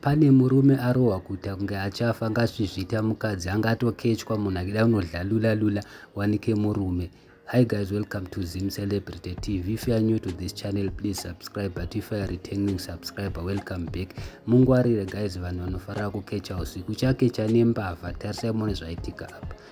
Pane murume arohwa kuita kunge achafa ngasvizvita mukadzi anga atokechwa munhu akida kunodlalula lula wanike murume Hi guys, welcome to Zim Celebrity TV. If you are new to this channel, please subscribe. But if you are returning subscriber, welcome back. Mungwarire guys, vanhu vanofarira kukecha usiku. Uchakecha nembavha, tarisai muone zvaitika apa.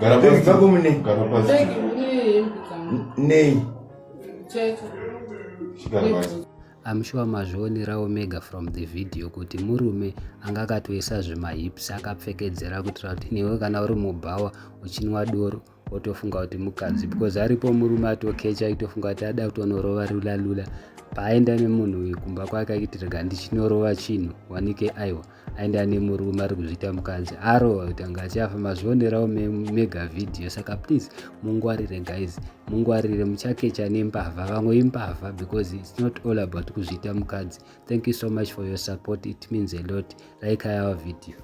Gara Bag pasi. dzako mune Gara pasi. Bag mune hembe dzangu. nei Chete. Gara pasi. I'm sure mazvionerawo mega from the video kuti murume anga akatoisa zvimahips akapfekedzera kuitira kuti newe kana uri mubhawa uchinwa doro wotofunga kuti mukadzi because aripo murume atokecha aitofunga kuti ada kutonorova lula lula paaenda nemunhu uyu kumba kwake achitirega ndichinorova chinhu wanike aiwa aenda nemurume ari kuzviita mukadzi arova kuti anga achafa mazvionerawo mega vhidhiyo saka please mungwarire guys mungwarire muchakecha nembavha vamwe imbavha because its not all about kuzviita mukadzi thank you so much for your support it means a lot like ayawa vhidhiyo